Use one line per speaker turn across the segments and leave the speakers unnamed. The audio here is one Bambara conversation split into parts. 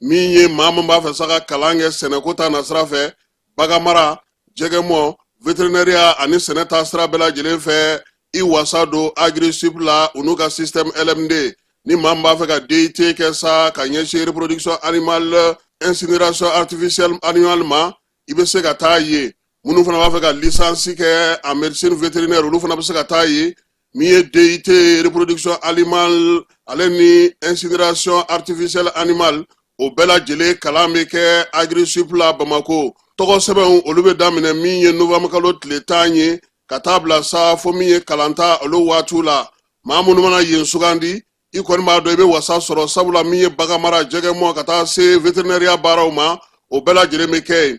min ye maa min b'a fɛ sa ka kalan kɛ sɛnɛko ta nasira fɛ baganmara jɛgɛmɔ veterinɛriya ani sɛnɛ ta sira bɛɛ lajɛlen fɛ i wasa don agrisup la u n'u ka système lmd ni maa min b'a fɛ ka dit kɛ sa ka ɲɛsin reproduction animale incinération artificielle animale ma i bɛ se ka taa ye minnu fana b'a fɛ ka lisansi kɛ en médecine vétérinaire olu fana bɛ se ka taa ye min ye DIT reproduction animale ale ni incinération artificielle animale o bɛɛ lajɛlen kalan bɛ kɛ Agrisup la Bamako tɔgɔsɛbɛnw olu bɛ daminɛ min ye novembre kalo tile tan ye ka taa bila sa fo min ye kalanta olu waatiw la maa minnu mana yen sugandi i kɔni b'a dɔn i bɛ wasa sɔrɔ sabula min ye baganmara jɛgɛmɔ ka taa se veterinɛriya baaraw ma o bɛɛ lajɛlen bɛ kɛ yen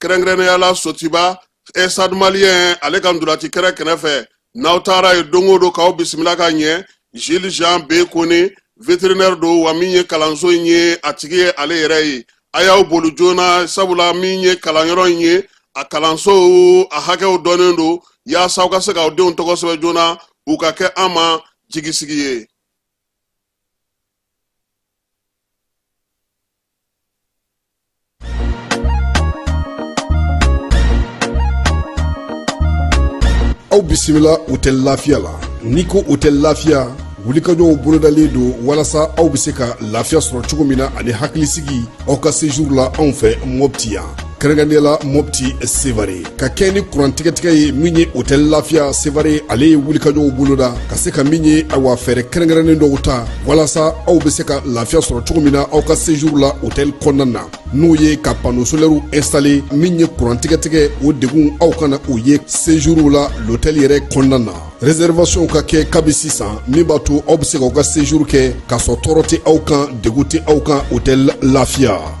kɛrɛnkɛrɛnnenya la sotiba stade malien ale ka ntolati kɛnɛ kɛrɛfɛ n'aw taara ye don o don k'aw bisimila ka ɲɛ jules jean b kone veterinɛri don wa min ye kalanso in ye a tigi ye ale yɛrɛ ye a y'aw boli joona sabula min ye kalanyɔrɔ in ye a kalanso a hakɛw dɔnnen don yaasa aw ka se k'aw denw tɔgɔ sɛbɛn joona u ka kɛ an ma jigisigi ye
aw bisimila hotɛli lafiya la n'i ko hotɛli lafiya wulikajɔw bolodalen don walasa aw bɛ se ka lafiya sɔrɔ cogo min na ani hakilisigi aw ka sejuru la anw fɛ mɔpti yan kɛrɛnkɛrɛnnenya la mopti sevare ka kɛɲɛ ni kurantigɛtigɛ ye min ye hotɛli lafiya sevare ale ye wulikajɔw boloda ka se ka min ye awa fɛɛrɛ kɛrɛnkɛrɛnnen dɔw ta walasa aw be se ka lafiya sɔrɔ cogo min na aw ka sejuru la hotɛli kɔnɔna na n'o ye ka pano solɛriw instale min ye kurantigɛtigɛ o degun aw kana o ye sejuru la lotɛli yɛrɛ kɔnɔna na reservation ka kɛ kabi sisan min b'a to aw be se k'aw ka sejuru kɛ k'a sɔrɔ tɔɔrɔ tɛ aw kan degun tɛ aw kan hotɛli lafiya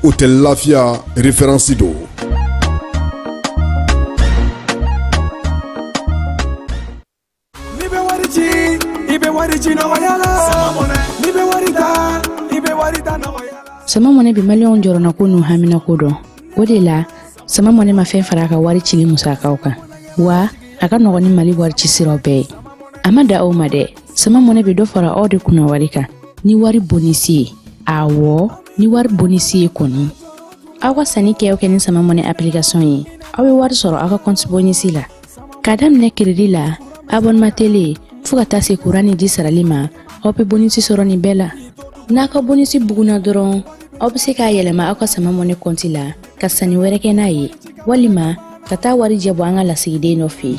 hotɛli lafiya referansi don n'i bɛ wari
ci i bɛ wari ci nɔgɔya la n'i bɛ wari ta i bɛ wari ta nɔgɔya la sama mɔnɛ bi maliyɛnw jɔrɔnako n'u haminako dɔn o de la sama mɔnɛ ma fɛn fara a ka wari cili musakaw kan wa a ka nɔgɔn ni mali wari ci siraw bɛɛ ye a ma dan o ma dɛ sama mɔnɛ bɛ dɔ fara aw de kunna wari kan ni wari bonisi ye awɔ ni wari bonisi ye kɔni aw ka sannikɛw kɛ ni sama mɔnɛ application ye aw bɛ wari sɔrɔ aw ka kɔnti bonisi la k'a daminɛ keredi la abonema tele fɔɔ ka taa se kuran ni ji sarali ma aw be bonisi sɔrɔ nin bɛɛ la n'a ka bonisi buguna dɔrɔn aw be se k'a yɛlɛma aw ka sama mɔnɛ kɔnti la ka sanni wɛrɛ kɛ n'a ye walima ka taa warijɛ bɔ an ka lasigiden dɔ fɛ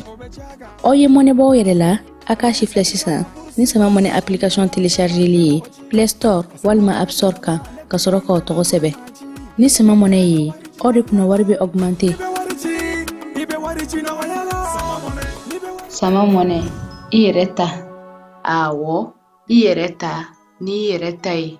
aw ye mɔnɛ bɔ aw yɛrɛ la a k'a sifilɛ sisan ni sama money application téléchargeli ye play store walima app store kan ka sɔrɔ k'aw tɔgɔ sɛbɛn ni sama money ye aw de kunna wari bɛ
augmenter sama money i yɛrɛ ta awɔ i yɛrɛ ta n'i yɛrɛ ta ye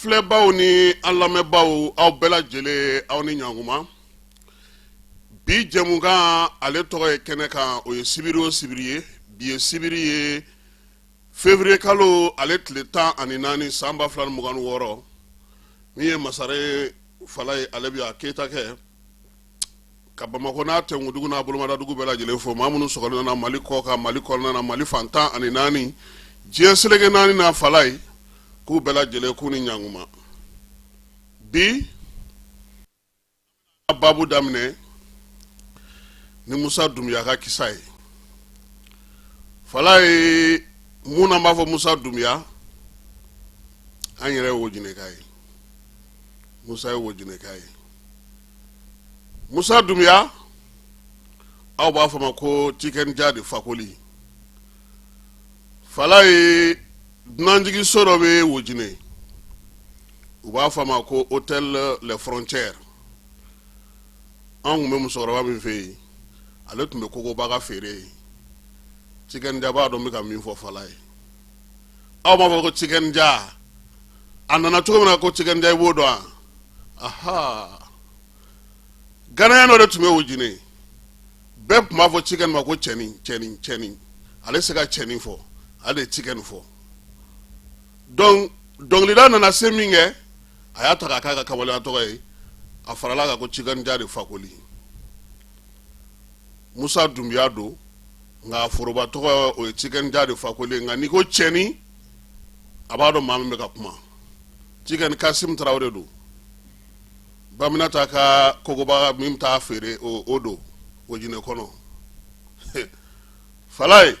filɛbaw ni an lamɛnbaw aw bɛɛ lajɛlen aw ni ɲakuma bi jɛmukan ale tɔgɔ ye kɛnɛ kan o ye sibiri o sibiri ye bi ye sibiri ye février kalo ale tile tan ani naani san ba fila ni mugan ni wɔɔrɔ min ye masare fala ye ale bi a kɛta kɛ ka bamakɔ n'a tɛdugu n'a bolomadadugu bɛɛ lajɛlen fo maa minnu sogokali nana mali kɔkan mali kɔnɔna mali fan tan ani naani diɲɛ seleke naani n'a fala ye k'u bɛɛ lajɛlen k'u ni ɲakuma bi baabu daminɛ ni musa dunbiya ka kisa ye fala ye mun b'a fɔ musa dunbiya an yɛrɛ ye wojineka ye musa ye wojineka ye musa dunbiya aw b'a fɔ ma ko tiken jah de fakoli fala ye dunanjiginso dɔ bɛ wojine u b'a fɔ a ma ko hôtel les frontières an tun bɛ musokɔrɔba min fɛ yen ale tun bɛ kokobaga feere ye tiken jah b'a dɔn bɛ ka min fɔ fala ye aw b'a fɔ ko tiken jah a nana cogo min na ko tiken jah i b'o dɔn wa aha ghanéen dɔ de tun bɛ wojine bɛɛ tun b'a fɔ tiken ma ko cɛnin cɛnin cɛnin ale se ka cɛnin fɔ ale de tiken fɔ donc dɔnkilida nana se min kɛ a y'a ta k'a k'a ka kamalenya tɔgɔ ye a farala kan ko tiken jah de fakoli musa dunbiya don nka foroba tɔgɔ o ye tiken jah de fakoli nka n'i ko cɛnin a b'a dɔn maa min bɛ ka kuma tiken kasim tarawele don baminata ka kokobaga min t'a feere o o don wojine kɔnɔ fala ye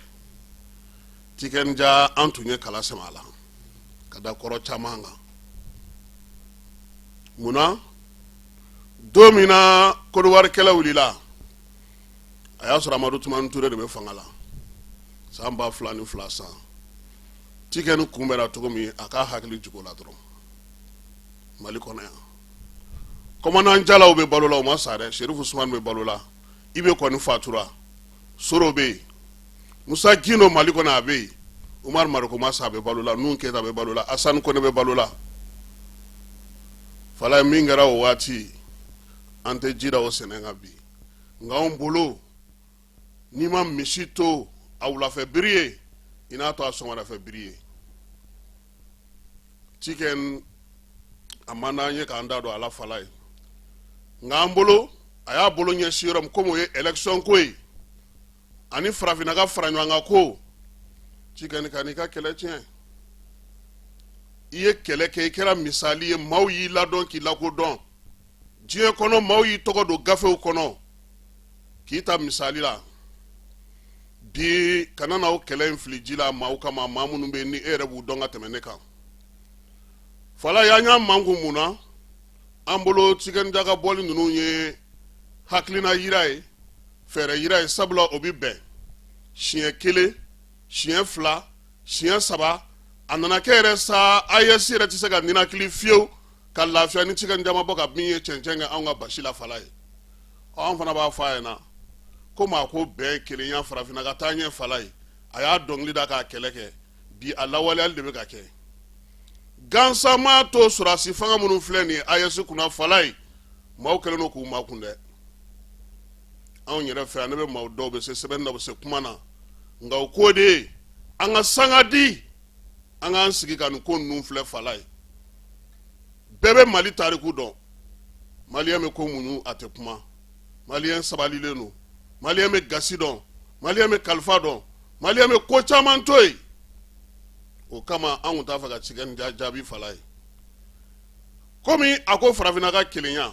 tiken jah an tun ye kala sɛmɛ a la ka da kɔrɔ caman kan munna don min na kɔdiwari kɛlɛ wulila a y'a sɔrɔ amadu tumani ture de bɛ fanga la san ba fila ni fila san tikɛn kunbɛra cogo min a k'a hakili jig'o la dɔrɔn mali kɔnɔ yan kɔmandan jalo bɛ balo la o ma sa dɛ serifu usumani bɛ balo la ibe kɔni fatura soro bɛ yen musa gindo mali kɔnɔ a bɛ yen umaru mariko ma sa a bɛ balo la nuhun keyita a bɛ balo la asani kɔnɛ bɛ balo la falaye min kɛra o waati an tɛ ji da o sɛnɛ kan bi nka anw bolo n'i ma misi to a wulafɛ biri ye i n'a to a sɔgɔmadafɛ biri ye tikɛn a man d'an ye k'an da don a la falaye nka an bolo a y'a bolo ɲɛsin yɔrɔ min komi o ye election ko ye ani farafinna ka fara ɲɔgɔn kan ko tikɛn kan'i ka kɛlɛ tiɲɛ i ye kɛlɛ kɛ i kɛra misali ye maaw y'i ladɔn k'i lakodɔn diɲɛ kɔnɔ maaw y'i tɔgɔ don gafew kɔnɔ k'i ta misali la bi kana na o kɛlɛ in fili ji la maaw kama maa minnu bɛ yen ni e yɛrɛ b'u dɔn ka tɛmɛ ne kan falaye an y'a manku mun na an bolo tikɛn ja ka bɔli ninnu ye hakilina yira ye fɛɛrɛ yira ye sabula o bɛ bɛn siɲɛ kelen siɲɛ fila siɲɛ saba a nana kɛ yɛrɛ sa aes yɛrɛ tɛ se ka ninakili fiyewu ka lafiya ni tikɛn ja ma bɔ ka bin ye cɛncɛn kɛ anw ka basi la falaye anw fana b'a fɔ a ɲɛ na ko maa ko bɛɛ kelenya farafinna ka taaɲɛ falaye a y'a dɔnkili da k'a kɛlɛ kɛ bi a lawaleyali de bɛ ka kɛ gansan maa to sɔrɔdasi fanga minnu filɛ nin ye aes kunna falaye maaw kɛlen don k'u makun dɛ anw yɛrɛ fɛ yan ne bɛ maaw dɔn u bɛ se sɛbɛnni na bɛ se kuma na nka o ko de ye an ka sanga di an k'an sigi ka nin ko ninnu filɛ falaye bɛɛ bɛ mali tariku dɔn maliyɛn bɛ ko muɲu a tɛ kuma maliyɛn sabalilen don maliyɛn bɛ gasi dɔn maliyɛn bɛ kalifa dɔn maliyɛn bɛ ko caman to yen o kama an tun t'a fɛ ka tikɛn jaabi falaye komi a ko farafinna ka kelenya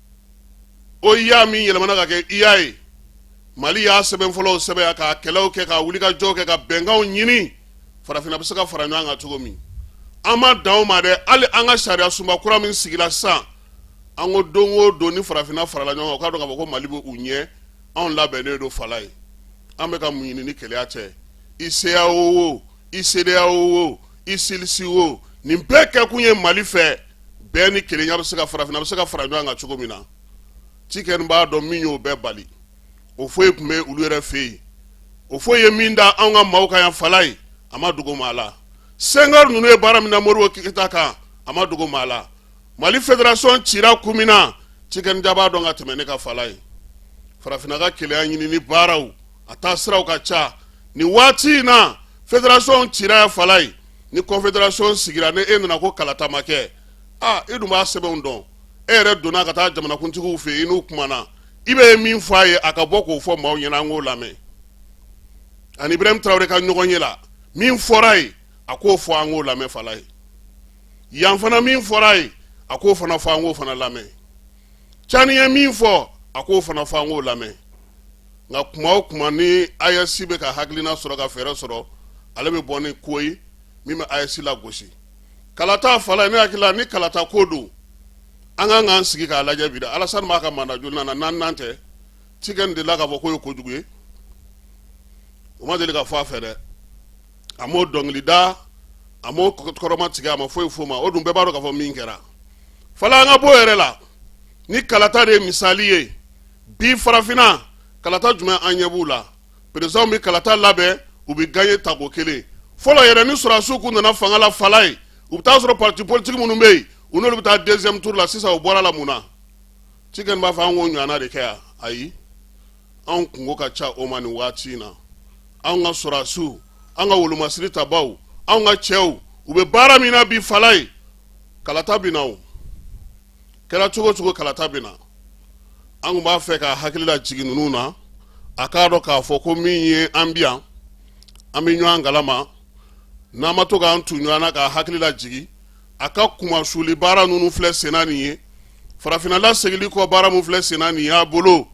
oua min yɛlɛmana ka kɛ ua ye mali y'a sɛbɛn fɔlɔw sɛbɛn ka kɛlɛw kɛ ka wulikajɔ kɛ ka bɛnkanw ɲini farafinna bɛ se ka fara ɲɔgɔn kan cogo min an ma dan o ma dɛ hali an ka sariya sunba kura min sigila sisan an ko don o don ni farafinna farala ɲɔgɔn kan u k'a dɔn k'a fɔ ko mali bɛ u ɲɛ anw labɛnnen don falaye an bɛ ka mun ɲini ni kelenya tɛ i ceao o i cedeao o i cilss o nin bɛɛ kɛkun ye mali fɛ bɛɛ ni kelenya bɛ se ka farafinna bɛ se ka fara ɲɔgɔn kan cogo min na tikɛn b'a dɔn min y'o bɛɛ bali houphouët tun bɛ olu yɛrɛ fɛ yen houphouët ye min da anw ka maaw kan yan falaye a ma dogo maa la senghor ninnu ye baara min na modibo keyita kan a ma dogo maa la mali federation cira kun min na cikɛni ja b'a dɔn ka tɛmɛ ne kan fala ye farafinna ka kelenya ɲinini baaraw a taa siraw ka ca nin waati in na federation cira yan fala ye ni confederation sigira ni e nana ko kalata ma kɛ a e dun b'a sɛbɛnw dɔn e yɛrɛ donna ka taa jamanakuntigiw fɛ i n'u kumana i bɛ min fɔ a ye a ka bɔ k'o fɔ maaw ɲɛna an k'o lamɛn a ni ibrahim tarawele ka ɲɔgɔnye la min fɔra a ye a k'o fɔ an k'o lamɛn fala ye yan fana min fɔra a ye a k'o fana fɔ an k'o fana lamɛn cani ye min fɔ a k'o fana fɔ an k'o lamɛn nka kuma o kuma ni ayɛsi bɛ ka hakilina sɔrɔ ka fɛɛrɛ sɔrɔ ale bɛ bɔ ni ko ye min bɛ ayɛsi lagosi kalata fala ye ne hakili la ni kalata ko don an kan k'an sigi k'a lajɛ bi dɛ alasani b'a ka manda jolinan na naaninan tɛ cikɛni delila k'a fɔ k'o ye kojugu ye o ma deli ka fɔ a fɛ dɛ a m'o dɔnkili da a m'o kɔrɔma tigɛ a ma foyi f'o ma o dun bɛɛ b'a dɔn k'a fɔ min kɛra fala an ka b'o yɛrɛ la ni kalata de ye misali ye bi farafinna kalata jumɛn an ɲɛ b'u la perezidanw bɛ kalata labɛn u bɛ gaɲe tako kelen fɔlɔ yɛrɛ ni sɔrɔdasiw kun nana fanga la fala ye u bɛ taa sɔrɔ parti politique minnu bɛ yen u n'olu bɛ taa deuxième tour la sisan u bɔra a la mun na cikɛni b'a fɔ an k'o ɲɔgɔnna de kɛ yan ayi anw kunko ka ca o ma nin waati in na anw ka sɔrɔdasiw an ka wolomasiri tabaw anw ka cɛw u bɛ baara min na bi fala ye kalata bɛ na o kɛra cogo o cogo kalata bɛ na an tun b'a fɛ k'a hakili lajigin ninnu na a k'a dɔn k'a fɔ ko min ye an bi yan an bɛ ɲɔgɔn kalama n'an ma to k'an tu ɲɔgɔn na k'a hakili lajigin a ka kumasuli baara ninnu filɛ senna nin ye farafinna lasegili kɔ baara min filɛ senna nin y'a bolo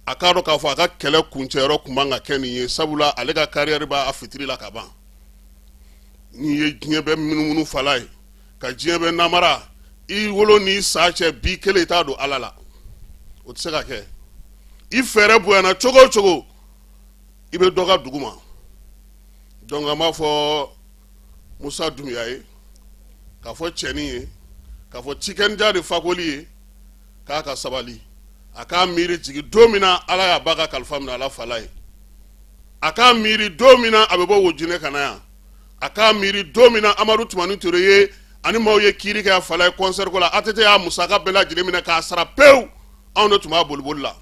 a k'a dɔn k'a fɔ a ka kɛlɛ kuncɛyɔrɔ kun man ka kɛ nin ye sabula ale ka kariyɛri b'a fitiri la ka ban n'i ye diɲɛ bɛɛ munumunu fala ye ka diɲɛ bɛɛ namara i wolo n'i sa cɛ bi kelen i t'a don ala la o tɛ se ka kɛ i fɛɛrɛ bonyana cogo o cogo i bɛ dɔ ka duguma dɔnku an b'a fɔ musa dumuya ye k'a fɔ cɛnin ye k'a fɔ cikɛni ja de fakoli ye k'a ka sabali a k'a miiri jigin don min na ala y'a ba ka kalifa minɛ a la fala ye a k'a miiri don min na a bɛ bɔ wojinɛ ka na yan a k'a miiri don min na amadu tumani ture ye a ni maaw ye kiiri kɛ a fala ye kɔnsɛri ko la atete y'a musaka bɛɛ lajɛlen minɛ k'a sara pewu anw de tun b'a boliboli la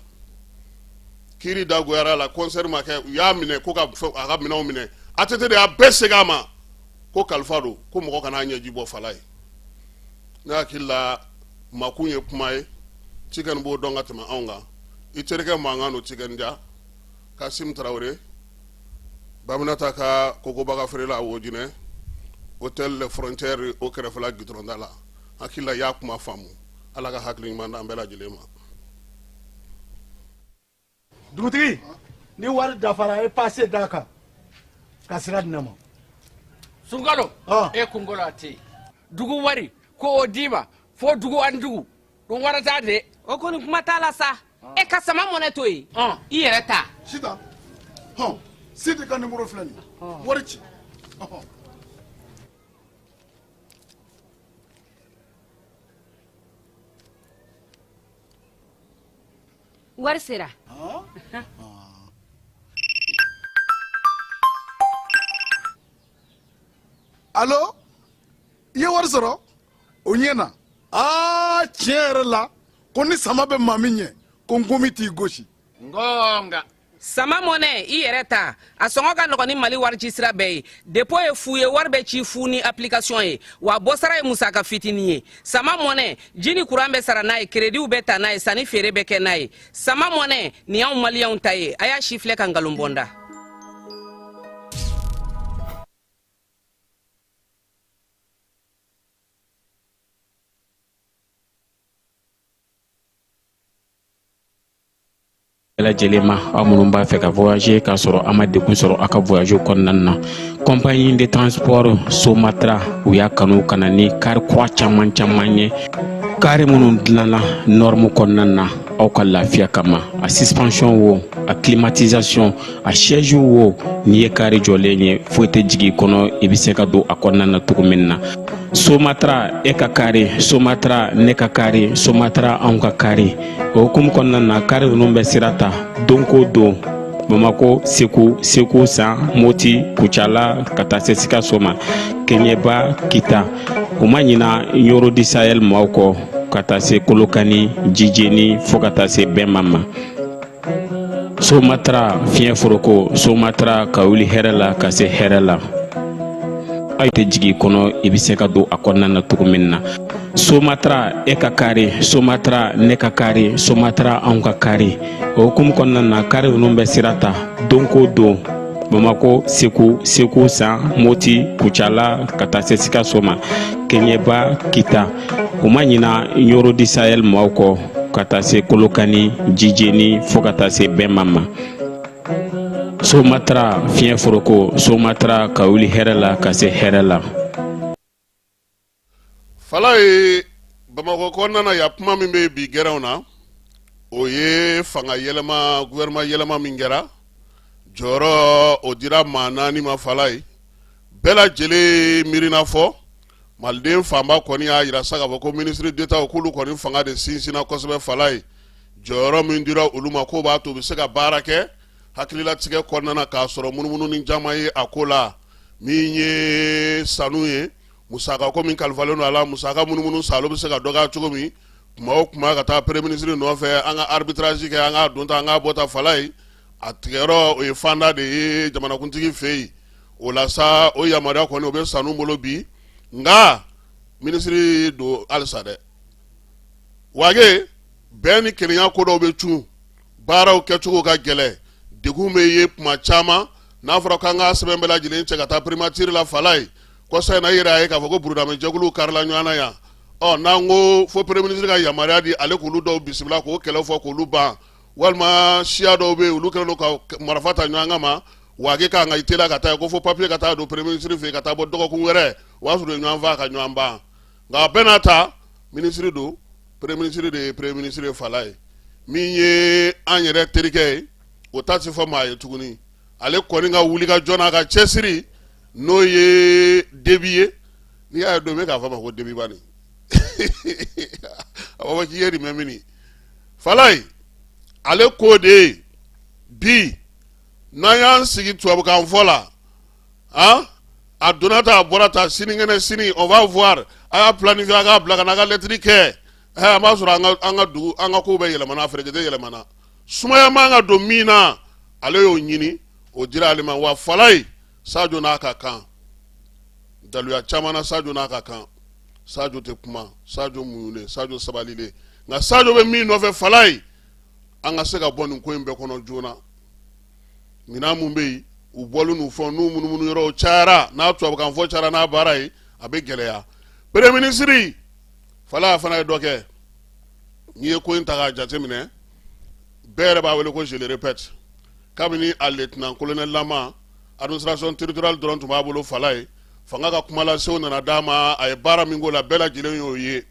kiiri dagoyara la kɔnsɛri ma kɛ u y'a minɛ ko ka a ka minɛnw minɛ atete de y'a bɛɛ segin a ma ko kalifa don ko mɔgɔ kana ɲɛji bɔ fala ye ne hakili la makun ye kuma ye tiken b'o dɔn ka tɛmɛ anw kan i terikɛ mankan don tiken jah kasim tarawele baminata ka kokobaga feerela wojinɛ hôtel les frontières o kɛrɛfɛla gitɔrɔn da la hakili la y'a kuma faamu ala ka hakili ɲuman d'an bɛɛ lajɛlen ma
dugutigi ni wari dafara a ye pase d'a kan ka sira di ne ma
sunkalo e kunkolo a tɛ yen dugu wari ko o d'i ma fo dugu an dugu don wɛrɛ t'a de o kɔni kuma t'a la
sa e ka sama mɔnɛ to yen i yɛrɛ ta
sita hɔn sidi ka nimoro filɛ nin wari ci
wari
sera alo i ye wari sɔrɔ o ɲɛna aa tiɲɛ yɛrɛ la ko ni sama bɛ maa min ɲɛ ko nkomi t'i gosi nka
sama mɔnɛ i yɛrɛ ta a sɔngɔ ka nɔgɔn ni mali warici sira bɛɛ ye depo ye fu ye wari bɛ ci fu ni application ye wa bɔsara ye musaka fitinin ye sama mɔnɛ ji ni kuran bɛ sara n'a ye kerediw bɛ ta n'a ye sanni feere bɛ kɛ n'a ye sama mɔnɛ nin y'anw maliyɛnw ta ye a y'a sifilɛ ka nkalon bɔ n da
bɛɛ lajɛlen ma aw minnu b'a fɛ ka voyager k'a sɔrɔ a ma degun sɔrɔ a ka voyage kɔnɔna na compagnie de transport somatra u y'a kanu ka na ni kari kura caman caman ye kari minnu dilanna norme kɔnɔna na aw ka lafiya kama a suspension wo a climatisation a siège wo n'i ye kari jɔlen ye foyi tɛ jigin i kɔnɔ i bɛ se ka don a kɔnɔna na cogo min na somatra e ka kari somatra ne ka kari somatra anw ka kari o hukumu kɔnɔna na kari ninnu bɛ sira ta don ko don bamakɔ segu segu san moti kucala ka taa se sikaso ma keɲɛba kita u ma ɲina ɲoro di sahɛl maaw kɔ ka taa se kolokani jijeni fɔɔ ka taa se bɛma ma somatara fiɲɛ foroko somatara ka wuli hɛrɛ la ka se hɛrɛ la foyi tɛ jigin i kɔnɔ i bɛ se ka don a kɔnɔna na cogo min na somatra e ka kari somatra ne ka kari somatra anw ka kari o hukumu kɔnɔna na kari ninnu bɛ sira ta don ko don bamakɔ segu segu san moti kucala ka taa se sikaso ma keɲɛba kita u ma ɲina ɲoro di sahɛl maaw kɔ ka taa se kolokani jijeni fɔɔ ka taa se bɛma ma somatara fiɲɛ foroko somatara ka wuli hɛrɛ la ka se hɛrɛ la
fala ye bamakɔ kɔnɔna na ya kuma min bɛ bi gɛrɛnw na o ye fanga yɛlɛma gouvernement yɛlɛma min kɛra jɔyɔrɔ o dira maa naani ma fala ye bɛɛ lajɛlen miirina fɔ maliden fanba kɔni y'a yira sa k'a fɔ ko ministre d'etat k'olu kɔni fanga de sinsinna kosɛbɛ fala ye jɔyɔrɔ min dira olu ma k'o b'a to u bɛ se ka baara kɛ hakililatigɛ kɔnɔna na k'a sɔrɔ munumununi caman ye a ko la min ye sanu ye musaka ko min kalifalen don a la musaka munumunu sa bɛ se ka dɔgɔya cogo min kuma o kuma ka taa premier ministre nɔfɛ an ka arbitrage kɛ an ka donta an ka bɔta fala ye a tigɛyɔrɔ o ye fanda de ye jamanakuntigi fɛ yen o la sa o yamaruya kɔni o bɛ sanu bolo bi nka minisiri don halisa dɛ wage bɛn ni kelenya ko dɔw bɛ cun baaraw kɛcogo ka gɛlɛ degun bɛ ye tuma caman n'a fɔra k'an ka sɛbɛn bɛɛ lajɛlen cɛ ka taa primature la fala ye kɔsa in na i yɛrɛ y'a ye k'a fɔ ko burudamɛjɛkuluw karila ɲɔgɔn na yan ɔ n'an ko fo premier ministre ka yamaruya di ale k'olu dɔw bisimila k'o kɛlɛ fɔ k'olu ban walima siya dɔw bɛ yen olu kɛlen don ka marifa ta ɲɔgɔn kama wage k'an ka i teliya ka taa ko fo papiye ka taa don premier ministre fɛ yen ka taa bɔ dɔgɔkun wɛrɛ o y'a sɔrɔ u ye ɲɔgɔn faa ka ɲɔgɔn ban nka a bɛɛ n'a ta minisiri don premier ministre de ye premier ministre fala ye min ye an yɛrɛ terikɛ ye o ta tɛ fɔ maa ye tuguni ale kɔni ka wulikajɔ n'a ka cɛsiri n'o ye debi ye n'i y'a ye don min k'a fɔ ma ko debi bani a b'a fɔ k'i ye nin mɛn mini fala ye ale k'o de ye bi n'an y'an sigi tubabukan fɔ la a a donna ta a bɔra ta sinikɛnɛ sini on va voir a y'a planifié a k'a bila ka na a ka lɛtiri kɛ ɛ an b'a sɔrɔ an ka an ka dugu an ka kow bɛɛ yɛlɛmana a ferekete yɛlɛmana sumaya man ka don min na ale y'o ɲini o dira ale ma wa fala ye sajo n'a ka kan daluya caman na sajo n'a ka kan sajo tɛ kuma sajo muɲunen sajo sabalilen nka sajo bɛ min nɔfɛ fala ye an ka se ka bɔ nin ko in bɛɛ kɔnɔ joona minɛn minnu bɛ yen u bɔlen n'u fɛn n'u munumunu yɔrɔw cayara n'a tubabukan fɔ cayara n'a baara ye a bɛ gɛlɛya premier ministre fala fana ye dɔ kɛ n'i ye ko in ta k'a jateminɛ bɛɛ yɛrɛ b'a wele ko je le répète kabini a lieutenant colonel lama administration territoriale dɔrɔn tun b'a bolo fala ye fanga ka kumalasew nana d'a ma a ye baara min k'o la bɛɛ lajɛlen y'o ye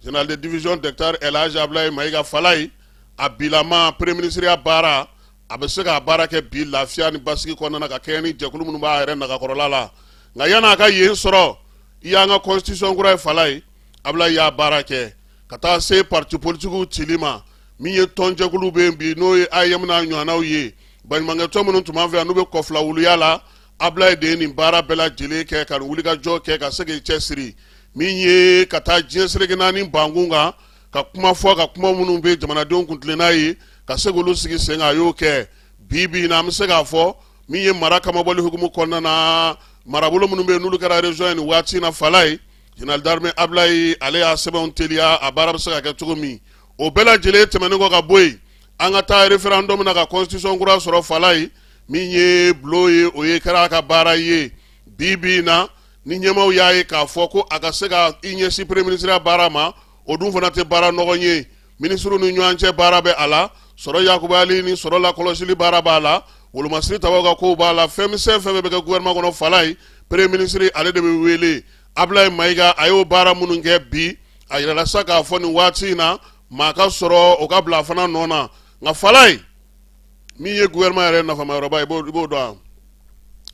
général de division docteur elhaj ablaye mayiga fala ye a bilama premier minisiriya baara a bɛ se k'a baara kɛ bi lafiya ni basigi kɔnɔna ka kɛɲɛ ni jɛkulu minnu b'a yɛrɛ nagakɔrɔla la nka yanni a ka yen sɔrɔ i y'an ka constitution kura ye Falaye Ablaye y'a baara kɛ ka taa se pati politikiw cili ma min ye tɔnjɛkulu bɛ yen bi n'o ye AEEM n'a ɲɔgɔnnaw ye baɲumankɛtɔn minnu tun b'an fɛ yan n'u bɛ kɔfila wuluya la Ablaye de ye nin baara bɛɛ lajɛlen kɛ ka nin wulikajɔ kɛ ka se k'i cɛsiri min ye ka taa diɲɛ seleke naani bankun kan ka kuma fɔ ka kuma minnu bɛ jamanadenw kuntilenna ye ka se k'olu sigi sen kan a y'o kɛ bi bi in na an bɛ se k'a fɔ min ye mara kamabɔli hukumu kɔnɔna na marabolo minnu bɛ yen n'olu kɛra région ye nin waati in na Falaye général d'armée Ablaye ale y'a sɛbɛnw teliya a baara bɛ se ka kɛ cogo min o bɛɛ lajɛlen tɛmɛnen kɔ ka bɔ yen an ka taa référendum na ka constitution kura sɔrɔ Falaye min ye bulon ye o ye kɛra a ka baara ye bi bi in na ni ɲɛmaaw y'a ye k'a fɔ ko a ka se ka i ɲɛsin premier ministreya baara ma o dun fana tɛ baara nɔgɔn ye minisiriw ni ɲɔgɔn cɛ baara bɛ a la sɔrɔ yakubayali ni sɔrɔ lakɔlɔsili baara b'a la wolomasiri tabaaw ka kow b'a la fɛn misɛn fɛn bɛ kɛ gouvernement kɔnɔ Falaye premier minisiri ale de bɛ wele Ablaye Mayiga a y'o baara minnu kɛ bi a yirala sa k'a fɔ nin waati in na maa ka sɔrɔ o ka bila fana nɔ na nka Falaye min ye gouvernement yɛrɛ nafama yɔrɔba ye i b'o dɔn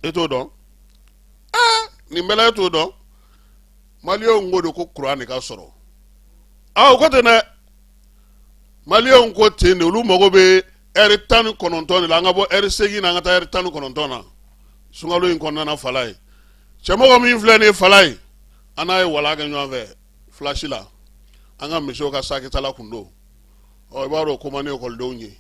e t'o dɔn nin bɛɛ la e t'o dɔn maliyɛnw ko de ko kuran de ka sɔrɔ aa o ko ten dɛ maliyɛnw ko ten de olu mago bɛ ɛri tan ni kɔnɔntɔn de la an ka bɔ ɛri seegin na an ka taa ɛri tan ni kɔnɔntɔn na sunkalo in kɔnɔna na Falaye Cɛmɔgɔ min filɛ nin ye Falaye an n'a ye wala kɛ ɲɔgɔn fɛ FLASH la an ka monsieurw ka sakitala kun don ɔ i b'a dɔn o ko man di ekɔlidenw ye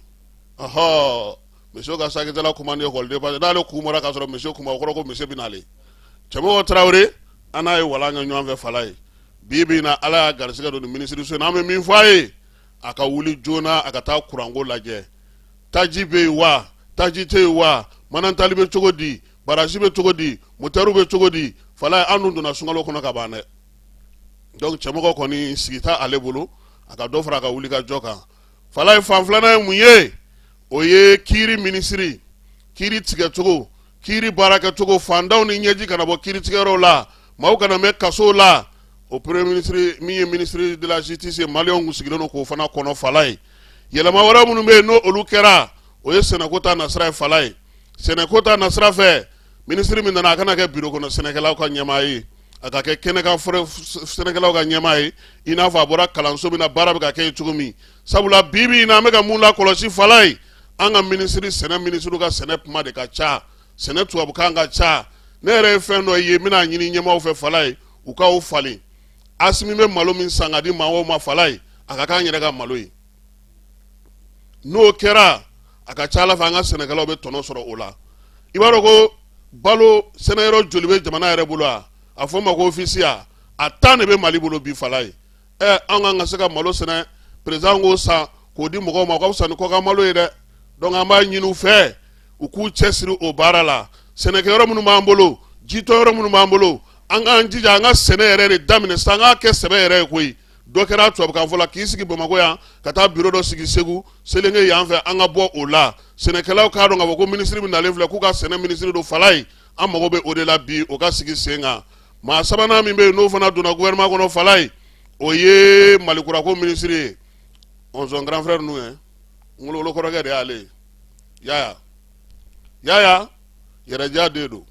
ɔhɔɔ monsieur ka sakitala ko man di ekɔliden parce que n'ale kun bɔra k'a sɔrɔ monsieur kun ma o kɔrɔ ko monsieur bɛ n'ale Cɛmɔgɔ Tarawele an n'a ye walan kɛ ɲɔgɔn fɛ Falaye bi bi in na ala y'a garisigɛ don nin minisiriso in na an bɛ min fɔ a ye a ka wuli joona a ka taa kuranko lajɛ taji bɛ yen wa taji tɛ yen wa Manantali bɛ cogo di barasi bɛ cogo di motɛriw bɛ cogo di Falaye an dun donna sunkalo kɔnɔ ka ban dɛ donc Cɛmɔgɔ kɔni sigi t'a ale bolo a ka dɔ fara a ka wulikajɔ kan Falaye fan filanan ye mun ye o ye kiiri minisiri kiiri tigɛcogo kiiri baarakɛcogo fantanw ni ɲɛji kana bɔ kiiri tigɛyɔrɔw la maaw kana mɛn kasow la o premier minisiri min ye minisiri de la justice ye maliyɛnw kun sigilen don k'o fana kɔnɔ Falaye yɛlɛma wɛrɛ minnu bɛ yen n'o olu kɛra o ye sɛnɛko ta nasira ye Falaye sɛnɛko ta nasira fɛ minisiri min nana a kana kɛ biro kɔnɔ sɛnɛkɛlaw ka ɲɛmaa ye a ka kɛ kɛnɛkan sɛnɛkɛlaw ka ɲɛmaa ye i n'a fɔ a bɔra kalanso min na baara bɛ ka kɛ yen cogo min sabula bi bi in na an bɛ ka mun lakɔlɔsi Falaye an ka minisiri sɛnɛ minisiriw ka sɛnɛ kuma de ka ca sɛnɛ tubabukan ka ca ne yɛrɛ ye fɛn dɔ ye n bɛn'a ɲini ɲɛmaaw fɛ Falaye u ka o falen Asimi bɛ malo min san ka di maaw ma Falaye a ka k'an yɛrɛ ka malo ye n'o kɛra a ka ca ala fɛ an ka sɛnɛkɛlaw bɛ tɔnɔ sɔrɔ o la i b'a dɔn ko balo sɛnɛyɔrɔ joli bɛ jamana yɛrɛ bolo a a fɔ ma ko ofisiya a tan de bɛ mali bolo bi falaye ɛ an kan ka se ka malo sɛnɛ président k'o san k'o di mɔgɔw ma ka fisa ni kɔkan malo ye dɛ donc an b'a ɲini u fɛ u k'u cɛ siri o baara la sɛnɛkɛ yɔrɔ minnu b'an bolo jitɔ yɔrɔ minnu b'an bolo an k'an jija an ka sɛnɛ yɛrɛ de daminɛ sa an k'a kɛ sɛbɛ yɛrɛ ye koyi dɔ kɛra tubabukanfɔ la k'i sigi bamakɔ yan ka taa biro dɔ sigi segu selenge yan fɛ an ka bɔ o la sɛnɛkɛlaw k'a dɔn k'a fɔ ko minisiri min nalen filɛ k'u ka sɛnɛ minisiri don falaye an mago bɛ o de la bi o ka sigi sen kan maa sabanan min bɛ yen n'o fana donna gouvernement kɔnɔ falaye o ye malikurako minisiri ye ɔnzɔn grand frère ninnu ye ngologolo kɔrɔkɛ de y'ale ye yaya yaya yɛrɛja de don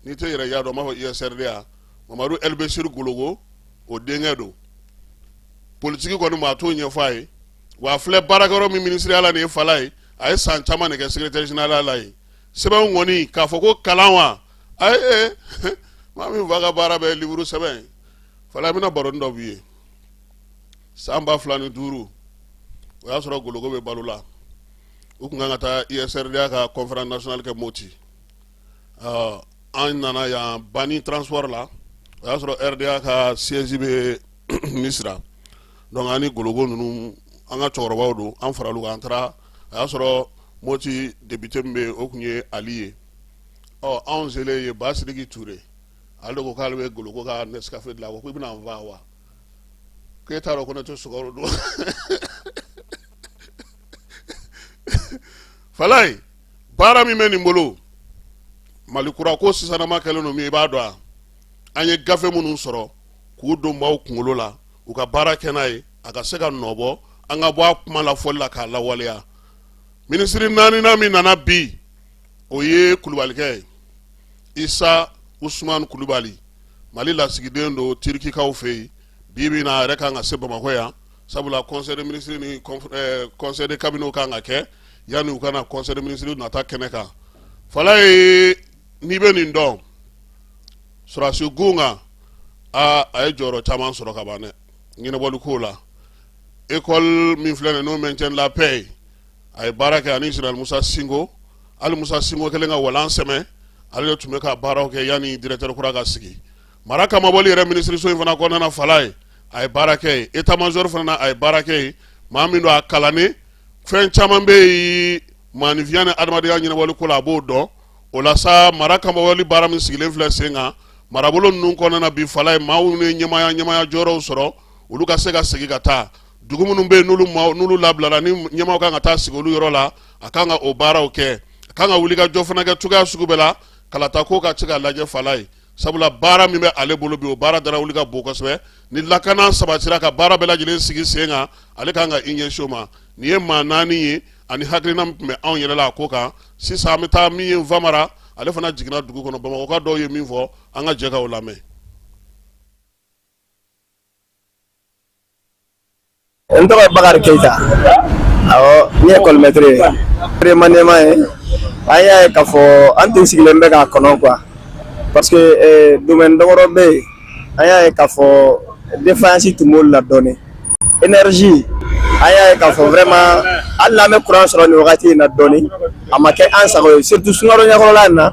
n'i tɛ yɛrɛja dɔn n b'a fɔ usrda mamadu elbesiri gologo o denkɛ don politiki kɔni maa t'o ɲɛfɔ a ye wa a filɛ baarakɛyɔrɔ min minisiriya la nin ye falaye a ye san caman de kɛ secrétaire général la yen sɛbɛnw kɔni k'a fɔ ko kalan wa ayi ee maa min fa ka baara bɛɛ liburu sɛbɛn ye fala n bɛna baroni dɔ b'i ye san ba fila ni duuru o y'a sɔrɔ gologo bɛ balo la u tun kan ka taa usrda ka conférence nationale kɛ moti an nana yan Bani transport la o y'a sɔrɔ RDA ka siège bɛ Misira donc an ni gologo ninnu an ka cɛkɔrɔbaw don an faral'u kan an taara a y'a sɔrɔ Moti député min bɛ yen o tun ye Ali ye ɔ anw selen yen Ba Sidiki Ture ale de ko k'ale bɛ gologo ka Nescafe dilan a ko k'i bɛna n faa wa k'e t'a dɔn ko ne tɛ sukaro dun Falaye baara min bɛ nin bolo mali kura ko sisanama kɛlen don min i b'a dɔn a an ye gafe minnu sɔrɔ k'u don maaw kunkolo la u ka baara kɛ n'a ye a ka se ka nɔbɔ an ka bɔ a kuma lafɔli la k'a lawaleya minisiri naaninan min nana bi o ye kulubalikɛ ye isa usumani kulubali mali lasigiden don tirikikaw fɛ yen bi bi na a yɛrɛ kan ka se bamakɔ yan sabula conseil des ministres ni conseil de cabinet kan ka kɛ yanni u ka na conseil des ministres nata kɛnɛ kan falaye n'i bɛ nin dɔn sɔrɔdasi kun kan aa a ye jɔyɔrɔ caman sɔrɔ ka ban dɛ ɲɛnabɔli ko la ekɔli min filɛ nin n'o maintien de la paix ye a ye baara kɛ ani général musa sinko hali musa sinko kɛlen ka walan sɛmɛ ale de tun bɛ ka baaraw kɛ yanni directeur kura ka sigi mara kamabɔli yɛrɛ minisiriso in fana kɔnɔna falaye a ye baara kɛ yen etamazɔri fana a ye baara kɛ yen maa min don a kalannen fɛn caman bɛ yen maaninfinya ni adamadenya ɲɛnabɔli ko la a b'o dɔn o la sa mara kamabɔli baara min sigilen filɛ sen kan marabolo ninnu kɔnɔna bi falaye maa minnu ye ɲɛmaya ɲɛmaya jɔyɔrɔw sɔrɔ olu ka se ka segin ka taa dugu minnu bɛ yen n'olu maaw n'olu labilara ni ɲɛmaaw kan ka taa sigi olu yɔrɔ la a kan ka o baaraw kɛ a kan ka wuli ka jɔ fana kɛ cogoya sugu bɛɛ la kalata ko ka se ka lajɛ falaye sabula baara min bɛ ale bolo bi o baara dara wuli ka bon kosɛbɛ ni lakana sabatira ka baara bɛɛ lajɛlen sigi sen kan ale kan ka i ɲɛsin o ma nin ye maa naani ye ani hakilina min tun bɛ anw yɛrɛ la a ko kan sisan an bɛ taa min ye nfamara ale fana jiginna dugu kɔnɔ bamakɔka dɔw ye min fɔ an ka jɛ ka o lamɛn
n tɔgɔ ye bakari keyita awɔ ne ye ekɔlimɛtiri ye remaniement ye an y'a ye k'a fɔ an tun sigilen bɛ k'a kɔnɔ quoi parce que eh, domaine damadɔ bɛ yen an y'a ye k'a fɔ défaillance tun b'olu la dɔɔni énergie an y'a ye k'a fɔ vraiment hali n'an bɛ kuran sɔrɔ nin wagati in na dɔɔni a ma kɛ an sago ye surtout sunkalo ɲɛkɔrɔla in na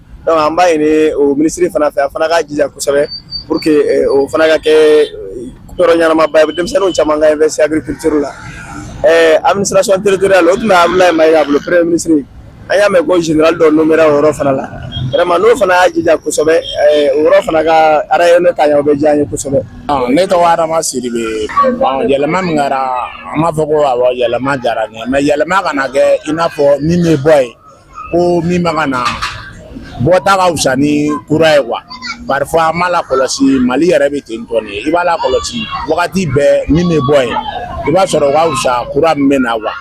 donc an b'a ɲini o minisiri fana fɛ a fana k'a jija kosɛbɛ pour que eh, o fana ka kɛ eh, yɔrɔ ɲɛnamaba ye denmisɛnninw caman ka investi agriculture la eh, administration territoriale o tun bɛ abulayi mayiga bolo premier ministre an y'a mɛn ko général dɔ nomera o yɔrɔ fana la vraiment n'o fana y'a jija kosɛbɛ o yɔrɔ fana ka rayonner ka ɲɛ o bɛ diya an ye kosɛbɛ. Ah, ne tɔgɔ
adama sidibe yɛlɛma min kɛra an b'a fɔ ko awɔ yɛlɛma diyara n ye mais yɛlɛma kana kɛ i n'a fɔ min bɛ bɔ yen ko min bɛ ka na bɔta ka fisa ni kura ye quoi parfois an b'a lakɔlɔsi mali yɛrɛ bɛ ten tɔ nin i b'a lakɔlɔsi wagati bɛɛ min bɛ bɔ yen i b'a sɔrɔ o ka fisa kura min bɛ na quoi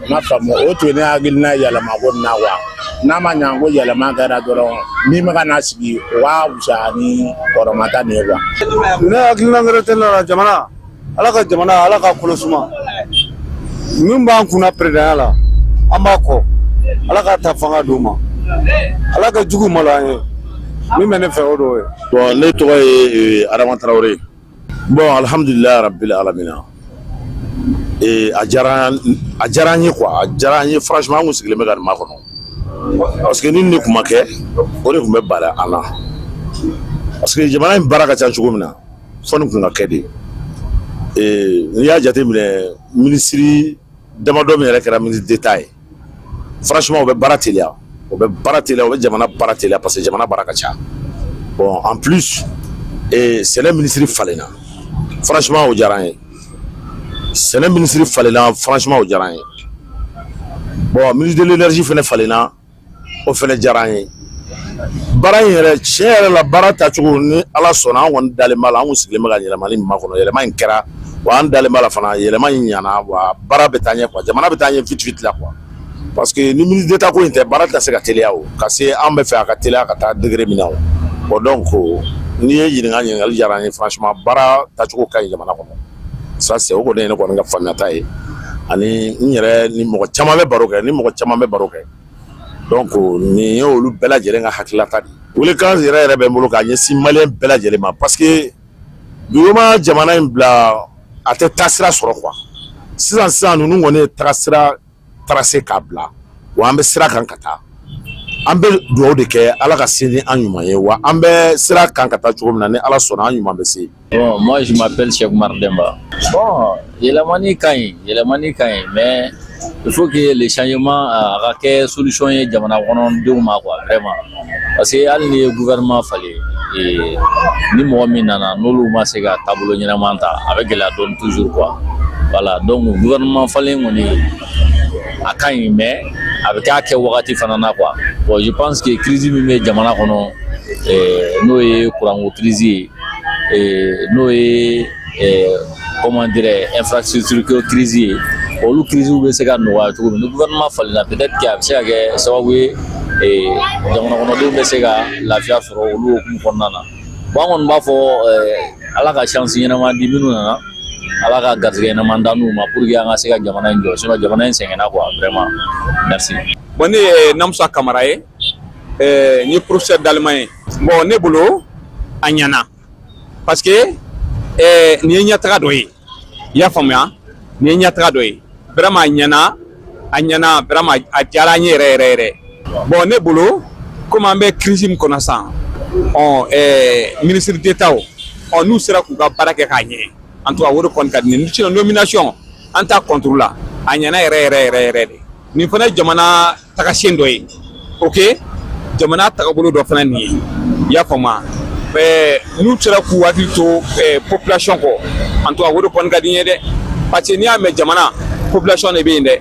n ma faamu o tun ye ne hakilina yɛlɛma ko nin na quoi n'a ma ɲa ko yɛlɛma kɛra dɔrɔn min bɛ ka na sigi o ka fisa ni kɔrɔman ta nin ye quoi ne hakilina
wɛrɛ tɛ ne la jamana ala ka jamana ala ka kolo suma min b'an kunna peresidanya la an b'a kɔ ala ka ta fanga d'u ma ala ka jugu malo an ye min bɛ ne fɛ o dɔw ye bon ne tɔgɔ ye
adama tarawele ye bon alhamdulilayi rabbil alamina ee a diyara a diyara an ye quoi a diyara an ye franchement an kun sigilen bɛ ka nin makɔnɔ parce que ni nin de kun ma kɛ o de kun bɛ bala an na parce que jamana in baara ka ca cogo min na fo nin kun ka kɛ de n'i y'a jate minɛ minisiri damadɔ min yɛrɛ kɛra ministre d'État ye franchement o bɛ baara teliya o bɛ baara te o bɛ jamana baara teliya parce que jamana baara ka ca bon en plus sɛnɛ minisiri falenna franchement o diyara n ye sɛnɛ minisiri falenna franchement o diyara n ye bon ministre de l'énergie fana falenla o fana diyara an ye baara in yɛrɛ tiɲɛ yɛrɛ la baara tacogo ni ala sɔnna an kɔni dalen b'a la an sigilen bɛ ka yɛlɛmali min makɔnɔ yɛlɛma in kɛra wa an dalen b'a la fana yɛlɛma in ɲana wa baara bɛ taa ɲɛ quoi jamana bɛ taa ɲɛ vite vite la quoi parce que ni ministre d'état ko in tɛ baara tɛ se ka teliya o ka se an b'a fɛ a ka teliya ka taa degré min na o bon donc n'i ye ɲininka ɲininkali diyara an ye franchement baara tacogo ka ɲi jamana kɔnɔ ça c'est o kɔni ye ne kɔni ka faamuyata ye ani n yɛrɛ ni mɔgɔ caman bɛ baro kɛ ni mɔgɔ caman bɛ baro kɛ donc nin ye olu bɛɛ lajɛlen ka hakililata de weelekan yɛrɛ yɛrɛ bɛ n bolo k'a ɲɛsin maliyɛn bɛɛ lajɛlen ma parce que duguma jamana in bila a tɛ tagasira sɔrɔ quoi sisan sisan ninnu kɔni ye tagasira tracé k'a bila wa an bɛ sira kan ka taa an bɛ dugawu de kɛ ala ka se ni an ɲuman ye wa an bɛ sira kan ka taa cogo min na ni ala sɔnna an ɲuman bɛ se bon moi je
m'appelle Cheikh Oumar Demba bon yɛlɛmani ka ɲi yɛlɛmani ka ɲi mais il faut que le changement a ka kɛ solution ye jamana kɔnɔdenw ma quoi vraiment parce que hali n'i ye gouvernement falen ee ni mɔgɔ min nana n'olu ma se ka taabolo ɲɛnama ta a bɛ gɛlɛya dɔɔni toujours quoi voilà donc gouvernement falen kɔni a ka ɲi mais a bɛ k'a kɛ wagati fana na quoi bon je pense que crise min bɛ jamana kɔnɔ ee n'o ye kuranko crise ye ee n'o ye comment dirais infrastructure ko crise ye olu crise bɛ se ka nɔgɔya cogo min ni gouvernement falenna peut-être que a bɛ se ka kɛ sababu ye jamana kɔnɔdenw bɛ se ka lafiya sɔrɔ olu hukumu kɔnɔna na bon an kɔni b'a fɔ ala ka chance ɲɛnama di minnu nana ala ka garisɛgɛ ɲɛnama d'an n'u ma pour que an ka se ka jamana in jɔ sinon jamana in sɛgɛnna quoi vraiment merci. bon ne ye
namusa kamara ye n ye professeur d'allemand ye bon ne bolo a ɲɛna. parce que eh, nin ye ɲɛtaga dɔ ye i y'a faamuya nin ye ɲɛtaga dɔ ye vraiment a ɲɛna a ɲɛna vraiment a diyara an ye yɛrɛ yɛrɛ yɛrɛ bon ne bolo comme an bɛ crise min kɔnɔ sisan ɔ eh, ministre d'état ɔ n'u sera k'u ka baara kɛ k'a ɲɛ en tout cas o de kɔni ka di ne ye nomination an t'a contre la a ɲɛna yɛrɛ yɛrɛ yɛrɛ yɛrɛ de nin fana ye jamana tagasiyɛn dɔ ye ok jamana tagabolo dɔ fana nin ye i y'a faamuya ɛɛ n'u sera k'u hakili to ɛɛ population kɔ en tout cas o de kɔni ka di n ye dɛ parce que n'i y'a mɛn jamana population de bɛ yen dɛ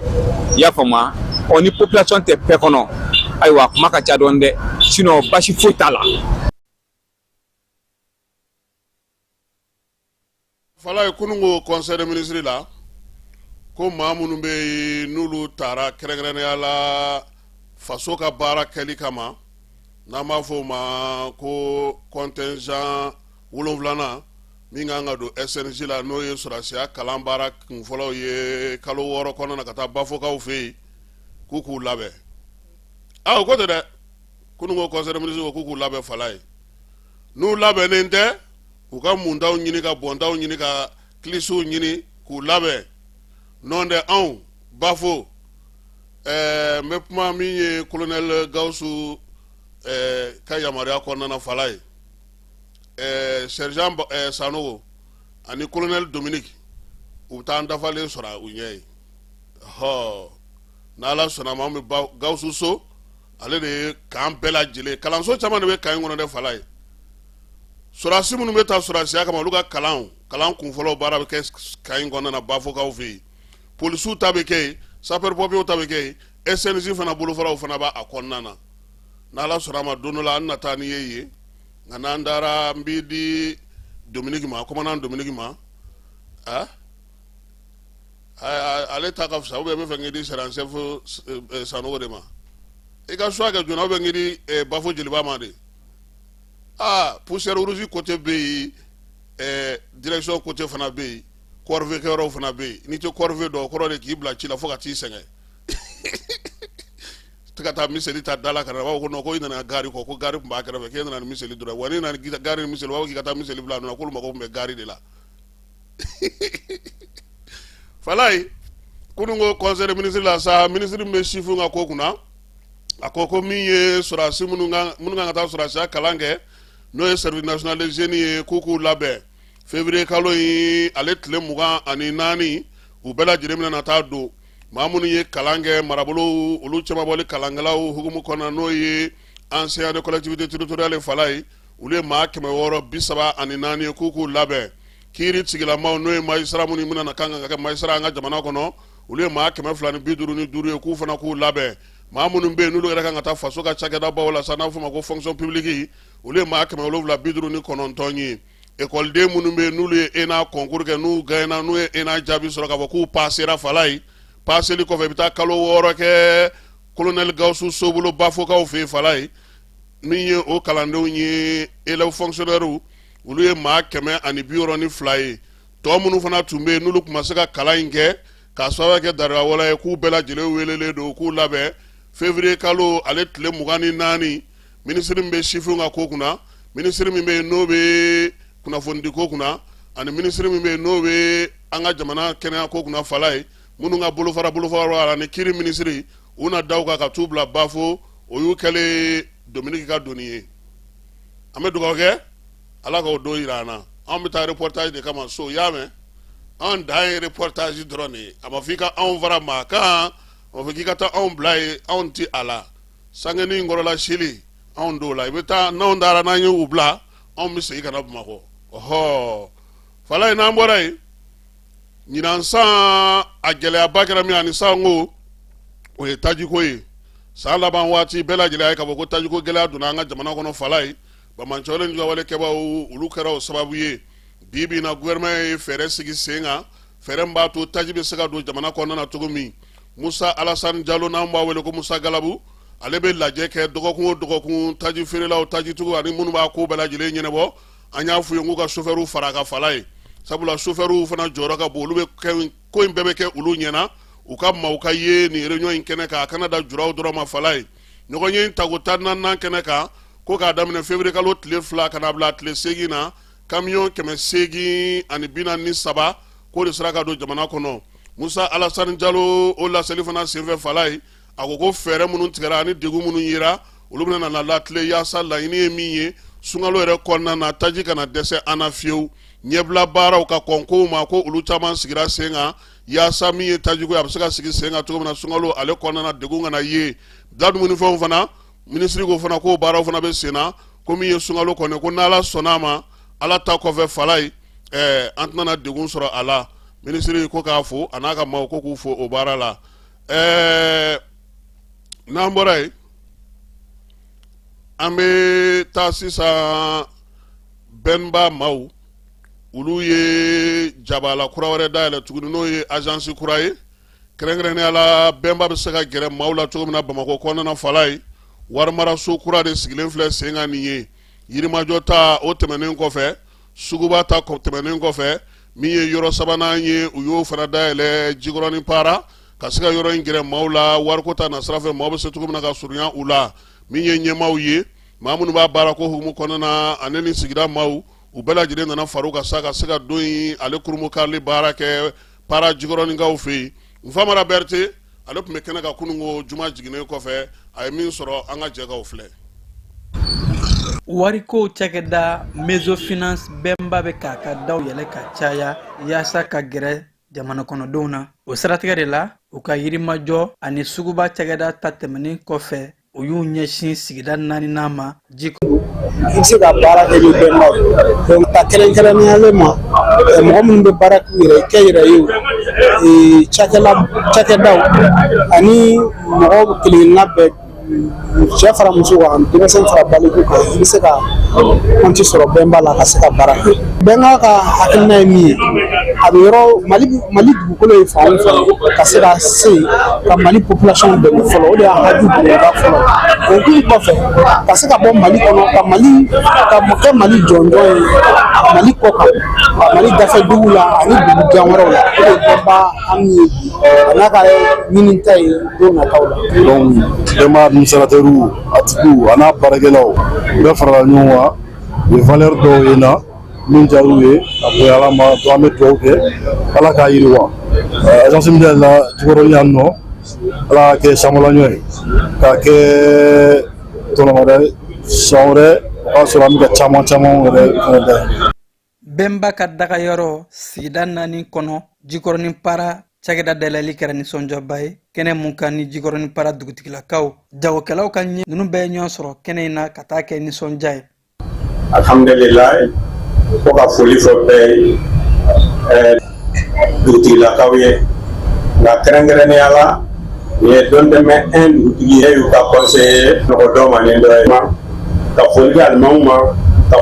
i y'a faamuya ɔ ni population tɛ pays kɔnɔ ayiwa kuma ka ca dɔɔni dɛ sinon basi foyi t'a la.
Fala ye kunun ko conseil des ministres la ko maa minnu bɛ yen n'olu taara kɛrɛnkɛrɛnnenya la faso ka baara kɛli kama n'an b'a fɔ o ma ko contingent wolonwulanan min kan ka don SNJ la n'o ye sɔrɔdasiya kalan baara kunfɔlɔw ye kalo wɔɔrɔ kɔnɔna na ka taa Bafokaw fɛ yen k'u k'u labɛn aw ko tɛ dɛ kunun ko conseil des ministres ko k'u k'u labɛn fala ye n'u labɛnnen tɛ k'u ka muntaw ɲini ka bɔntaw ɲini ka kilisiw ɲini k'u labɛn nɔntɛ anw Bafo ɛɛ n bɛ kuma min ye colonel Gawusu ɛɛ ka yamaruya kɔnɔna fala ye ɛɛ sergent ɛɛ Sanogo ani colonel Dominique u bɛ taa an dafalen sɔrɔ u ɲɛ yen hɔɔ n'ala sɔnna ma an bɛ Gawusu So ale de ye camp bɛɛ lajɛlen kalanso caman de bɛ camp in kɔnɔ dɛ fala ye sɔrɔsi minnu bɛ taa sɔrɔsiya kama olu ka kalan kalan kunfɔlɔ baara bɛ kɛ camp in kɔnɔna Bafokaw fɛ yen polisiw ta bɛ kɛ sapeurs-pompiers ta bɛ kɛ yen SNJ fana bolofaraw fana b'a kɔnɔna na n'ala sɔnna ma don dɔ la an na taa n'i ye yen nka n'an taara n b'i di Dominique ma commandant Dominique ma ale ta ka fisa ou bien b'a fɛ k'i di sergent chef Sanogo de ma i ka choix kɛ joona ou bien k'i di Bafo Jeliba ma de aa poussière rouge côté bɛ yen ɛɛ direction côté fana bɛ yen corvée kɛyɔrɔw fana bɛ yen n'i tɛ corvée dɔn o kɔrɔ de k'i bila ci la fo ka t'i sɛgɛn tɛ ka taa miseli ta da la ka na b'a fɔ ko non ko i nana gari kɔ ko gari tun b'a kɛrɛfɛ k'e nana ni miseli dɔrɔn wa n'i nana ni gari ni miseli u b'a fɔ k'i ka taa miseli bila a nɔ na k'olu mago tun bɛ gari de la fala ye kunun ko conseil des ministres la sa minisiri min bɛ sifinw ka ko kunna a ko ko min ye sɔrɔdasi minnu kan minnu kan ka taa sɔrɔdasiya kalan kɛ n'o ye service national des jeunes ye k'u k'u labɛn février kalo in ale tile mugan ani naani u bɛɛ lajɛlen bɛna na taa don maa minnu ye kalan kɛ marabolow olu cɛmabɔli kalankɛlaw hukumu kɔnɔna n'o ye enseignants des collectivités territoriales fala ye olu ye maa kɛmɛ wɔɔrɔ bi saba ani naani ye k'u k'u labɛn kiiritigɛlamaw n'o ye magistrat minnu bɛna na kan ka kɛ magistrat an ka jamana kɔnɔ olu ye maa kɛmɛ fila ni bi duuru ni duuru ye k'u fana k'u labɛn maa minnu bɛ yen n'olu yɛrɛ kan ka taa faso ka cakɛdabaw la sa n'a fɔ ma ko fonction publique olu ye maa kɛmɛ wolonwula bi duuru ni kɔnɔntɔn ye ekɔliden minnu bɛ yen n'olu ye ENA concours kɛ n'u gagnera n'u ye ENA jaabi sɔrɔ k'a fɔ k'u pasera fala ye paseli kɔfɛ i bɛ taa kalo wɔɔrɔ kɛ colonel Gawusu So bolo Bafokaw fɛ yen fala ye min ye o kalandenw ye élèves fonctionnaires olu ye maa kɛmɛ ani bi wɔɔrɔ ni fila ye tɔ minnu fana tun bɛ yen n'olu tun ma se ka kalan in kɛ k'a sababu kɛ daliluya wɛrɛ ye k'u bɛɛ lajɛlen weelelen don k'u labɛn février kalo ale tile mugan ni naani minisiri min bɛ sifinw ka ko kunna minisiri min bɛ yen n'o bɛ kunnafonidiko kunna ani minisiri min bɛ yen n'o bɛ an ka jamana kɛnɛyako kunna falaye minnu ka bolofara bolofara la ni kiri minisiri u na da kan ka t'u bila bafo o y'u kɛlen dominiki ka doni ye an bɛ dugawu kɛ ala k'o don jira an na anw bɛ taa reportage de kama so y'a mɛn an dan ye reportage dɔrɔn de ye a ma fɔ i ka anw fara maa kan a ma fɔ k'i ka taa anw bila ye anw ti a la sangeni in kɔrɔla sili anw t'o la i bɛ taa n'anw taara n'an ye u bila anw bɛ segin ka na bamakɔ ɔhɔ falaye n'an bɔra yen ɲinan san a gɛlɛyaba kɛra min ani sanko o ye tajiko ye san laban waati bɛɛ lajɛlen ye k'a fɔ ko tajiko gɛlɛya donna an ka jamana kɔnɔ falaye banbaanciwale juguwale kɛbaaw olu kɛra o sababu ye bi bi in na gouvernement ye fɛɛrɛ sigi sen kan fɛɛrɛ min b'a to taji bɛ se ka don jamana kɔnɔna na cogo min musa alasani jalo n'an b'a wele ko musa galabu ale bɛ lajɛ kɛ dɔgɔkun o dɔgɔkun taji feerelaw tajitigiw ani minnu b'a ko bɛɛ lajɛlen ɲɛnabɔ an y'a f'u ye k'u ka sofɛriw fara a kan falaye sabula sofɛriw fana jɔyɔrɔ ka bon olu bɛ kɛ ko in bɛɛ bɛ kɛ olu ɲɛna u ka maaw ka ye nin réunion in kɛnɛ kan a kana dan julaw dɔrɔn ma falaye ɲɔgɔnye in tako tan naaninan kɛnɛ kan ko k'a daminɛ février kalo tile fila ka na bila tile seegin na kamiyɔn kɛmɛ seegin ani bi naani ni saba k'o de sera ka don jamana kɔnɔ musa alasani jalo o laseli fana senfɛ falaye a ko ko fɛɛrɛ minnu tigɛra ani degun minnu yera olu bɛna na latilen yaasa laɲini ye min ye sunkalo yɛrɛ kɔnɔna na taji kana dɛsɛ an na fiyewu ɲɛbila baaraw ka kɔn kow ma ko olu caman sigira sen kan yaasa min ye tajiko ye a bɛ se ka sigi sen kan cogo min na sunkalo ale kɔnɔna na degun kana ye da dumunifɛnw fana minisiri ko fana k'o baaraw fana bɛ senna ko min ye sunkalo kɔni ko n'ala sɔnna a ma ala ta kɔfɛ falaye ɛɛ an tɛna degun sɔrɔ a la minisiri ko k'a fo a n'a ka maaw ko k'u fo o baara la ɛɛ n'an bɔra yen an bɛ taa sisan bɛnba maaw olu ye jabala kura wɛrɛ dayɛlɛ tuguni n'o ye azansi kura ye kɛrɛnkɛrɛnnenya la bɛnba bɛ se ka gɛrɛ maaw la cogo min na bamakɔ kɔnɔna falaye warimaraso kura de sigilen filɛ sen kan nin ye yirimajɔ ta o tɛmɛnen kɔfɛ suguba ta tɛmɛnen kɔfɛ min ye yɔrɔ sabanan ye u y'o fana dayɛlɛ jikɔrɔnin para ka se ka yɔrɔ in gɛrɛ maaw la wariko ta nasira fɛ maaw bɛ se cogo min na ka surunya u la min ye ɲɛmaaw ye maa minnu b'a baara k'o hukumu kɔnɔna na ani ni sigida maaw u bɛɛ lajɛlen nana fara u kan sa ka se ka don in ale kurunbonkarili baara kɛ para jikɔrɔninkaw fɛ yen Nfamara Berete ale tun bɛ kɛnɛ kan kunun ko juma jiginnen kɔfɛ a ye min sɔrɔ an ka jɛ k'o filɛ. Wariko
cakɛda mésofinance bɛnba bɛ k'a ka daw yɛlɛ ka caya yaasa ka gɛrɛ jamanakɔnɔdenw na. O siratigɛ de la, u ka yirimajɔ ani suguba cakɛda ta tɛmɛnen kɔfɛ, u y'u ɲɛsin sigida naaninan ma ji i bɛ
se ka baara kɛ ni bɛnba ye donc ka kɛrɛnkɛrɛnnenya la ma mɔgɔ minnu bɛ baara k'u yɛrɛ kɛ yɛrɛ ye cakɛdaw ani mɔgɔ kelen-kelenna bɛɛ cɛ fara muso kan denmisɛn fara baliku kan i bɛ se ka kɔnti sɔrɔ bɛnba la ka se ka baara kɛ bɛnba ka hakilina ye min ye a bɛ yɔrɔ mali mali dugukolo ye fan fɛ ka se ka se ka mali population dɛmɛ fɔlɔ o de y'a haju bonba fɔlɔ o kun kɔfɛ ka se ka bɔ mali kɔnɔ ka mali ka kɛ mali jɔnjɔn ye mali kɔ kan mali dafɛ duguw la ani dugu jan wɛrɛw la o de ye bɛnba an ye bi a n'a ka ɲinita ye don nataw la donc
bɛnba administrateurs a tigiw a n'a baarakɛlaw bɛɛ farala ɲɔgɔn kan u ye valeur dɔw ye n na min diyar'u ye a bonya ala ma donc an bɛ dugawu kɛ ala k'a yiriwa agence min dayɛlɛla jikɔrɔni yan nɔ ala k'a kɛ sankolanyɔ ye k'a kɛ tɔnɔ wɛrɛ san wɛrɛ o b'a sɔrɔ an bɛ ka caman caman wɛrɛ fana dayɛlɛ bɛnba
ka dagayɔrɔ sigida naani kɔnɔ jikɔrɔni para cakɛda dayɛlɛli kɛra nisɔndiyaba ye kɛnɛ min kan ni jikɔrɔni para dugutigilakaw jagokɛlaw ka ɲɛ ninnu bɛɛ ɲɔgɔn sɔrɔ kɛnɛ in na ka taa kɛ nisɔndiya ye
alhamdulila fo ka foli fɔ bɛɛ ye ɛɛ dugutigilakaw ye nka kɛrɛnkɛrɛnnenya la nin ye dɔntɛmɛ un dugutigi ye y'u ka kɔnseye nɔgɔ dɔ ma ni dɔ ye ka foli di alimamiw ma